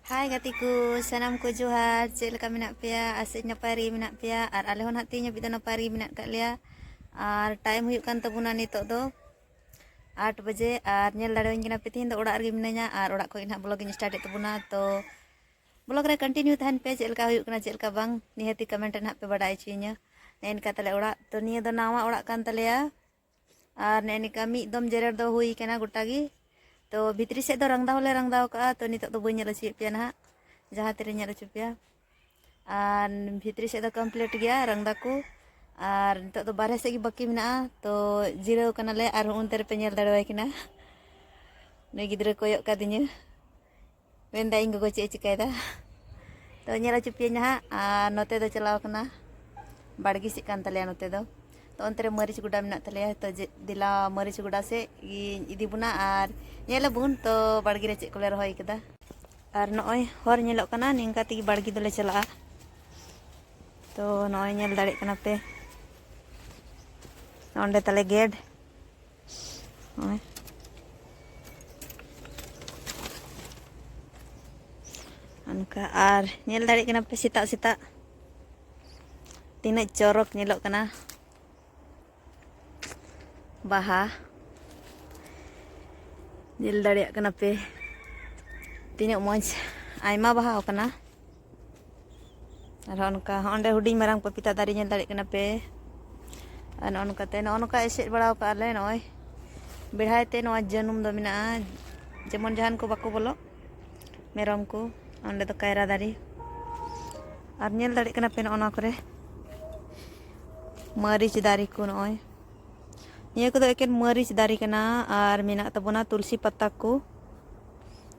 ᱦᱟᱭ ᱜᱟᱛᱮ ᱠᱚ ᱥᱟᱱᱟᱢ ᱠᱚ ᱡᱚᱦᱟᱨ ᱪᱮᱫ ᱞᱮᱠᱟ ᱢᱮᱱᱟᱜ ᱯᱮᱭᱟ ᱟᱥᱮᱡ ᱱᱟᱯᱟᱭ ᱨᱮᱜᱮ ᱢᱮᱱᱟᱜ ᱯᱮᱭᱟ ᱟᱨ ᱟᱞᱮ ᱦᱚᱸ ᱱᱟᱦᱟᱜ ᱛᱮᱦᱮᱧ ᱦᱟᱹᱵᱤᱡ ᱫᱚ ᱱᱟᱯᱟᱭ ᱨᱮᱜᱮ ᱢᱮᱱᱟᱜ ᱟᱠᱟᱫ ᱞᱮᱭᱟ ᱟᱨ ᱴᱟᱭᱤᱢ ᱦᱩᱭᱩᱜ ᱠᱟᱱ ᱛᱟᱵᱚᱱᱟ ᱱᱤᱛᱚᱜ ᱫᱚ ᱟᱴ ᱵᱟᱡᱮ ᱟᱨ ᱧᱮᱞ ᱫᱟᱲᱮᱣᱟᱹᱧ ᱠᱟᱱᱟ ᱯᱮ ᱛᱮᱦᱮᱧ ᱫᱚ ᱚᱲᱟᱜ ᱨᱮᱜᱮ ᱢᱤᱱᱟᱹᱧᱟ ᱟᱨ ᱚᱲᱟᱜ ᱠᱷᱚᱱ ᱱᱟᱦᱟᱜ ᱵᱞᱚᱜᱤᱧ ᱥᱴᱟᱨᱴᱮᱫ ᱛᱟᱵᱚᱱᱟ ᱛᱚ ᱵᱞᱚᱜ ᱨᱮ ᱠᱚᱱᱴᱤᱱᱤᱭᱩ ᱛᱟᱦᱮᱱ ᱯᱮ ᱪᱮᱫ ᱞᱮᱠᱟ ᱦᱩᱭᱩᱜ ᱠᱟᱱᱟ ᱪᱮᱫ ᱞᱮᱠᱟ ᱵᱟᱝ ᱱᱤᱦᱟᱹᱛᱤ ᱠᱚᱢᱮᱱᱴ ᱨᱮ ᱱᱟᱦᱟᱜ ᱯᱮ ᱵᱟᱰᱟᱭ ᱦᱚᱪᱚᱭᱤᱧᱟ ᱱᱮᱜᱼᱮ ᱱᱮᱝᱠᱟ ᱛᱟᱞᱮ ᱚᱲᱟᱜ ᱛᱚ ᱱᱤᱭᱟᱹ ᱫᱚ ᱱᱟᱣᱟ ᱚᱲᱟᱜ ᱠᱟᱱ ᱛᱟᱞᱮᱭᱟ ᱟᱨ ᱱᱮᱜᱼᱮ ᱱᱤᱝᱠᱟ ᱢᱤᱫ ᱫᱚᱢ ᱡᱮᱨᱮᱲ ᱫᱚ ᱦᱩᱭ ᱠᱟᱱᱟ ᱜᱚᱴᱟ ᱜᱮ ᱛᱚ ᱵᱷᱤᱛᱨᱤ ᱥᱮᱫ ᱫᱚ ᱨᱟᱝᱫᱟ ᱦᱚᱸᱞᱮ ᱨᱟᱝᱫᱟ ᱟᱠᱟᱫᱼᱟ ᱛᱚ ᱱᱤᱛᱚᱜ ᱫᱚ ᱵᱟᱹᱧ ᱧᱮᱞ ᱦᱚᱪᱚᱭᱮᱫ ᱯᱮᱭᱟ ᱱᱟᱦᱟᱜ ᱡᱟᱦᱟᱸ ᱛᱤᱨᱮᱧ ᱧᱮᱞ ᱦᱚᱪᱚ ᱯᱮᱭᱟ ᱟᱨ ᱵᱷᱤᱛᱨᱤ ᱥᱮᱫ ᱫᱚ ᱠᱚᱢᱯᱞᱤᱴ ᱜᱮᱭᱟ ᱨᱟᱝᱫᱟ ᱠᱚ ᱟᱨ ᱱᱤᱛᱚᱜ ᱫᱚ ᱵᱟᱨᱦᱮ ᱥᱮᱫ ᱜᱮ ᱵᱟᱹᱠᱤ ᱢᱮᱱᱟᱜᱼᱟ ᱛᱚ ᱡᱤᱨᱟᱹᱣ ᱠᱟᱱᱟᱞᱮ ᱟᱨᱦᱚᱸ ᱚᱱᱛᱮ ᱨᱮᱯᱮ ᱧᱮᱞ ᱫᱟᱲᱮᱣᱟᱭ ᱠᱟᱱᱟ ᱱᱩᱭ ᱜᱤᱫᱽᱨᱟᱹ ᱠᱚᱭᱚᱜ ᱠᱟᱫᱤᱧᱟᱹ ᱢᱮᱱᱫᱟ ᱤᱧ ᱜᱚᱜᱚ ᱪᱮᱫ ᱮ ᱪᱤᱠᱟᱹᱭᱮᱫᱟ ᱛᱚ ᱧᱮᱞ ᱦᱚᱪᱚ ᱯᱮᱭᱟᱹᱧ ᱦᱟᱸᱜ ᱟᱨ ᱱᱚᱛᱮ ᱫᱚ ᱪᱟᱞᱟᱣ ᱠᱟᱱᱟ ᱵᱟᱲᱜᱮ ᱥᱮᱫ ᱠᱟᱱ ᱛᱟᱞᱮᱭᱟ ᱱᱚᱛᱮ ᱫᱚ ᱛᱚ ᱚᱱᱛᱮ ᱨᱮ ᱢᱟᱹᱨᱤᱪ ᱜᱚᱰᱟ ᱢᱮᱱᱟᱜ ᱛᱟᱞᱮᱭᱟ ᱛᱚ ᱫᱮᱞᱟ ᱢᱟᱹᱨᱤᱪ ᱜᱚᱰᱟ ᱥᱮᱫ ᱤᱧ ᱤᱫᱤ ᱵᱚᱱᱟ ᱟᱨ ᱧᱮᱞ ᱟᱵᱚᱱ ᱛᱚ ᱵᱟᱲᱜᱮ ᱨᱮ ᱪᱮᱫ ᱠᱚᱞᱮ ᱨᱚᱦᱚᱭ ᱠᱟᱫᱟ ᱟᱨ ᱱᱚᱜᱼᱚᱭ ᱦᱚᱨ ᱧᱮᱞᱚᱜ ᱠᱟᱱᱟ ᱱᱤᱝᱠᱟ ᱛᱮᱜᱮ ᱵᱟᱲᱜᱮ ᱫᱚᱞᱮ ᱪᱟᱞᱟᱜᱼᱟ ᱛᱚ ᱱᱚᱜᱼᱚᱭ ᱧᱮᱞ ᱫᱟᱲᱮᱭᱟᱜ ᱠᱟᱱᱟ ᱯᱮ ᱚᱸᱰᱮ ᱛᱟᱞᱮ ᱜᱮᱰ ᱱᱚᱜᱼᱚᱭ ᱚᱱᱠᱟ ᱟᱨ ᱧᱮᱞ ᱫᱟᱲᱮᱭᱟᱜ ᱠᱟᱱᱟ ᱯᱮ ᱥᱮᱛᱟᱜ ᱥᱮᱛᱟᱜ ᱛᱤᱱᱟᱹᱜ ᱪᱚᱨᱚᱠ ᱧᱮᱞᱚᱜ ᱠᱟᱱᱟ ᱵᱟᱦᱟ ᱧᱮᱞ ᱫᱟᱲᱮᱭᱟᱜ ᱠᱟᱱᱟ ᱯᱮ ᱛᱤᱱᱟᱹᱜ ᱢᱚᱡᱽ ᱟᱭᱢᱟ ᱵᱟᱦᱟ ᱟᱠᱟᱱᱟ ᱟᱨᱦᱚᱸ ᱚᱱᱠᱟ ᱦᱚᱸ ᱚᱸᱰᱮ ᱦᱩᱰᱤᱧ ᱢᱟᱨᱟᱝ ᱯᱚᱯᱤᱛᱟ ᱫᱟᱨᱮ ᱧᱮᱞ ᱫᱟᱲᱮᱭᱟᱜ ᱠᱟᱱᱟ ᱯᱮ ᱟᱨ ᱱᱚᱜᱼᱚ ᱱᱚᱝᱠᱟᱛᱮ ᱱᱚᱜᱼᱚ ᱱᱚᱝᱠᱟ ᱮᱥᱮᱫ ᱵᱟᱲᱟ ᱠᱟᱜᱼᱟ ᱞᱮ ᱱᱚᱜᱼᱚᱭ ᱵᱮᱲᱦᱟᱭ ᱛᱮ ᱱᱚᱣᱟ ᱡᱟᱹᱱᱩᱢ ᱫᱚ ᱢᱮᱱᱟᱜᱼᱟ ᱡᱮᱢᱚᱱ ᱡᱟᱦᱟᱱ ᱠᱚ ᱵᱟᱠᱚ ᱵᱚᱞᱚᱜ ᱢᱮᱨᱚᱢ ᱠᱚ ᱚᱸᱰᱮ ᱫᱚ ᱠᱟᱭᱨᱟ ᱫᱟᱨᱮ ᱟᱨ ᱧᱮᱞ ᱫᱟᱲᱮᱭᱟᱜ ᱠᱟᱱᱟ ᱯᱮ ᱱᱚᱜᱼᱚ ᱱᱚᱣᱟ ᱠᱚᱨᱮ ᱢᱟᱹᱨᱤᱪ ᱫᱟᱨᱮ ᱠᱚ ᱱᱚᱜᱼᱚᱭ ᱱᱤᱭᱟᱹ ᱠᱚᱫᱚ ᱮᱠᱮᱱ ᱢᱟᱹᱨᱤᱪ ᱫᱟᱨᱮ ᱠᱟᱱᱟ ᱟᱨ ᱢᱮᱱᱟᱜ ᱛᱟᱵᱚᱱᱟ ᱛᱩᱞᱥᱤ ᱯᱟᱛᱟ ᱠᱚ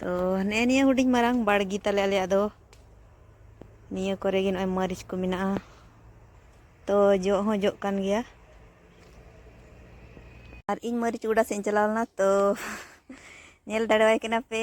ᱛᱚ ᱱᱮᱜᱼᱮ ᱱᱤᱭᱟᱹ ᱦᱩᱰᱤᱧ ᱢᱟᱨᱟᱝ ᱵᱟᱲᱜᱮ ᱛᱟᱞᱮ ᱟᱞᱮᱭᱟᱜ ᱫᱚ ᱱᱤᱭᱟᱹ ᱠᱚᱨᱮ ᱜᱮ ᱱᱚᱜᱼᱚᱭ ᱢᱟᱹᱨᱤᱪ ᱠᱚ ᱢᱮᱱᱟᱜᱼᱟ ᱛᱚ ᱡᱚᱜ ᱦᱚᱸ ᱡᱚᱜ ᱠᱟᱱ ᱜᱮᱭᱟ ᱟᱨ ᱤᱧ ᱢᱟᱹᱨᱤᱪ ᱜᱚᱰᱟ ᱥᱮᱫ ᱤᱧ ᱪᱟᱞᱟᱣ ᱞᱮᱱᱟ ᱛᱚ ᱧᱮᱞ ᱫᱟᱲᱮᱣᱟᱭ ᱠᱟᱱᱟ ᱯᱮ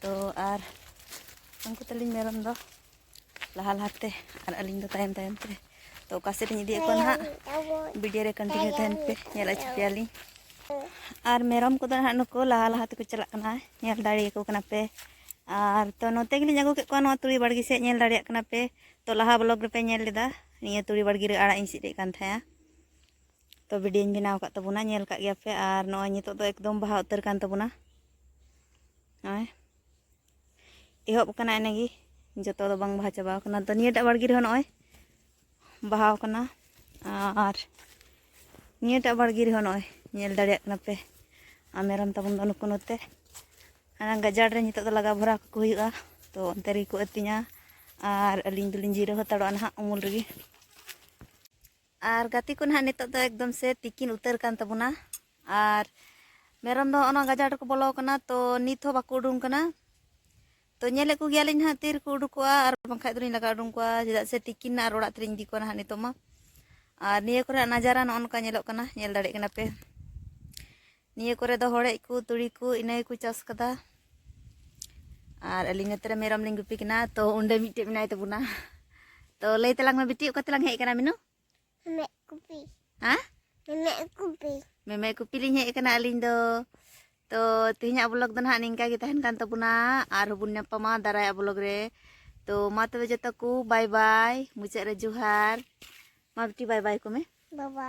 ᱛᱚ ᱟᱨ ᱩᱱᱠᱩ ᱛᱟᱹᱞᱤᱧ ᱢᱮᱨᱚᱢ ᱫᱚ ᱞᱟᱦᱟ ᱞᱟᱦᱟᱛᱮ ᱟᱨ ᱟᱹᱞᱤᱧ ᱫᱚ ᱛᱟᱭᱚᱢ ᱛᱟᱭᱚᱢ ᱛᱮ ᱛᱚ ᱚᱠᱟ ᱥᱮᱫ ᱞᱤᱧ ᱤᱫᱤᱭᱮᱫ ᱠᱚᱣᱟ ᱱᱟᱦᱟᱜ ᱵᱷᱤᱰᱤᱭᱳ ᱨᱮ ᱠᱚᱱᱴᱤᱱᱤᱭᱩ ᱛᱟᱦᱮᱱ ᱯᱮ ᱧᱮᱞ ᱟᱪᱩ ᱯᱮᱭᱟᱞᱤᱧ ᱟᱨ ᱢᱮᱨᱚᱢ ᱠᱚᱫᱚ ᱱᱟᱦᱟᱜ ᱱᱩᱠᱩ ᱞᱟᱦᱟ ᱞᱟᱦᱟ ᱛᱮᱠᱚ ᱪᱟᱞᱟᱜ ᱠᱟᱱᱟ ᱧᱮᱞ ᱫᱟᱲᱮᱭᱟᱠᱚ ᱠᱟᱱᱟ ᱯᱮ ᱟᱨ ᱛᱚ ᱱᱚᱛᱮ ᱜᱮᱞᱤᱧ ᱟᱹᱜᱩ ᱠᱮᱫ ᱠᱚᱣᱟ ᱱᱚᱣᱟ ᱛᱩᱲᱤ ᱵᱟᱲᱜᱮ ᱥᱮᱫ ᱧᱮᱞ ᱫᱟᱲᱮᱭᱟᱜ ᱠᱟᱱᱟ ᱯᱮ ᱛᱚ ᱞᱟᱦᱟ ᱵᱞᱚᱜ ᱨᱮᱯᱮ ᱧᱮᱞ ᱞᱮᱫᱟ ᱱᱤᱭᱟᱹ ᱛᱩᱲᱤ ᱵᱟᱲᱜᱮ ᱨᱮ ᱟᱲᱟᱜ ᱤᱧ ᱥᱤᱫ ᱮᱫ ᱠᱟᱱ ᱛᱟᱦᱮᱸᱜᱼᱟ ᱛᱚ ᱵᱷᱤᱰᱤᱭᱳᱧ ᱵᱮᱱᱟᱣ ᱟᱠᱟᱫ ᱛᱟᱵᱚᱱᱟ ᱧᱮᱞ ᱠᱟᱜ ᱜᱮᱭᱟ ᱯᱮ ᱟᱨ ᱱᱚᱜᱼᱚᱭ ᱱᱤᱛᱚᱜ ᱫᱚ ᱮᱠᱫᱚᱢ ᱵᱟᱦᱟ ᱩᱛᱟᱹᱨ ᱠᱟᱱ ᱛᱟᱵᱚᱱᱟ ᱱᱚᱜᱼᱚᱭ ᱮᱦᱚᱵ ᱟᱠᱟᱱᱟ ᱮᱱᱮ ᱜᱮ ᱡᱚᱛᱚ ᱫᱚ ᱵᱟᱝ ᱵᱟᱦᱟ ᱪᱟᱵᱟ ᱟᱠᱟᱱᱟ ᱛᱚ ᱱᱤᱭᱟᱹᱴᱟᱜ ᱵᱟᱲᱜᱮ ᱨᱮᱦᱚᱸ ᱱᱚᱜᱼᱚᱭ ᱵᱟᱦᱟ ᱟᱠᱟᱱᱟ ᱟᱨ ᱱᱤᱭᱟᱹᱴᱟᱜ ᱵᱟᱲᱜᱮ ᱨᱮᱦᱚᱸ ᱱᱚᱜᱼᱚᱭ ᱧᱮᱞ ᱫᱟᱲᱮᱭᱟᱜ ᱠᱟᱱᱟ ᱯᱮ ᱟᱨ ᱢᱮᱨᱚᱢ ᱛᱟᱵᱚᱱ ᱫᱚ ᱱᱩᱠᱩ ᱱᱚᱛᱮ ᱚᱱᱟ ᱜᱟᱡᱟᱲ ᱨᱮ ᱱᱤᱛᱚᱜ ᱫᱚ ᱞᱟᱜᱟ ᱵᱷᱚᱨᱟ ᱠᱚ ᱦᱩᱭᱩᱜᱼᱟ ᱛᱚ ᱚᱱᱛᱮ ᱨᱮᱜᱮ ᱠᱚ ᱟᱹᱛᱤᱧᱟ ᱟᱨ ᱟᱹᱞᱤᱧ ᱫᱚᱞᱤᱧ ᱡᱤᱨᱟᱹᱣ ᱦᱟᱛᱟᱲᱚᱜᱼᱟ ᱱᱟᱦᱟᱜ ᱩᱢᱩᱞ ᱨᱮᱜᱮ ᱟᱨ ᱜᱟᱛᱮ ᱠᱚ ᱱᱟᱦᱟᱜ ᱱᱤᱛᱚᱜ ᱫᱚ ᱮᱠᱫᱚᱢ ᱥᱮ ᱛᱤᱠᱤᱱ ᱩᱛᱟᱹᱨ ᱠᱟᱱ ᱛᱟᱵᱚᱱᱟ ᱟᱨ ᱢᱮᱨᱚᱢ ᱫᱚ ᱚᱱᱟ ᱜᱟᱡᱟᱲ ᱨᱮᱠᱚ ᱵᱚᱞᱚ ᱟᱠᱟᱱᱟ ᱛᱚ ᱱᱤᱛ ᱦᱚᱸ ᱵᱟᱠᱚ ᱩᱰᱩᱝ ᱠᱟᱱᱟ ᱛᱚ ᱧᱮᱞᱮᱫ ᱠᱚᱜᱮᱭᱟᱞᱤᱧ ᱱᱟᱦᱟᱜ ᱛᱤ ᱨᱮᱠᱚ ᱩᱰᱩᱠᱚᱜᱼᱟ ᱟᱨ ᱵᱟᱝᱠᱷᱟᱡ ᱫᱚᱞᱤᱧ ᱞᱟᱜᱟ ᱩᱰᱩᱝ ᱠᱚᱣᱟ ᱪᱮᱫᱟᱜ ᱥᱮ ᱛᱤᱠᱤᱱ ᱟᱨ ᱚᱲᱟᱜ ᱛᱮᱞᱤᱧ ᱤᱫᱤ ᱠᱚᱣᱟ ᱱᱟᱦᱟᱜ ᱱᱤᱛᱚᱜ ᱢᱟ ᱟᱨ ᱱᱤᱭᱟᱹ ᱠᱚᱨᱮᱱᱟᱜ ᱱᱟᱡᱟᱨᱟ ᱱᱚᱜᱼᱚ ᱱᱚᱝᱠᱟ ᱧᱮᱞᱚᱜ ᱠᱟᱱᱟ ᱧᱮᱞ ᱫᱟᱲᱮᱭᱟᱜ ᱠᱟᱱᱟ ᱯᱮ ᱱᱤᱭᱟᱹ ᱠᱚᱨᱮ ᱫᱚ ᱦᱚᱲᱮᱡ ᱠᱚ ᱛᱩᱲᱤ ᱠᱚ ᱤᱱᱟᱹ ᱜᱮᱠᱚ ᱪᱟᱥ ᱠᱟᱫᱟ ᱟᱨ ᱟᱹᱞᱤᱧ ᱱᱚᱛᱮ ᱨᱮ ᱢᱮᱨᱚᱢ ᱞᱤᱧ ᱜᱩᱯᱤ ᱠᱟᱱᱟ ᱛᱚ ᱚᱸᱰᱮ ᱢᱤᱫᱴᱮᱡ ᱢᱮᱱᱟᱭ ᱛᱟᱵᱚᱱᱟ ᱛᱚ ᱞᱟᱹᱭ ᱛᱟᱞᱟᱝ ᱢᱮ ᱵᱤᱴᱤ ᱚᱠᱟ ᱛᱮᱞᱟᱝ ᱦᱮᱡ ᱠᱟᱱᱟ ᱢᱤᱱᱩ ᱢᱮᱢᱮ ᱠᱩᱯᱤ ᱦᱮᱸ ᱢᱮᱢᱮ ᱠᱩᱯᱤ ᱢᱮᱢᱮ ᱠᱩᱯᱤ ᱞᱤᱧ ᱦᱮᱡ ᱠᱟᱱᱟ ᱟᱹᱞᱤᱧ ᱫᱚ ᱛᱚ ᱛᱮᱦᱮᱧᱟᱜ ᱵᱞᱚᱜ ᱫᱚ ᱱᱟᱦᱟᱜ ᱱᱤᱝᱠᱟ ᱜᱮ ᱛᱟᱦᱮᱱ ᱠᱟᱱ ᱛᱟᱵᱚᱱᱟ ᱟᱨ ᱦᱚᱸᱵᱚᱱ ᱧᱟᱯᱟᱢᱟ ᱫᱟᱨᱟᱭᱟᱜ ᱵᱞᱚᱜ ᱨᱮ ᱛᱚ ᱢᱟ ᱛᱚᱵᱮ ᱡᱚᱛᱚ ᱠᱚ ᱵᱟᱭ ᱵᱟᱭ ᱢᱩᱪᱟᱹᱫ ᱨᱮ ᱡᱚᱦᱟᱨ ᱢᱟ ᱵᱤᱴᱤ ᱵᱟᱭ ᱵᱟᱭ ᱠᱚ ᱢᱮ ᱵᱟᱵᱟ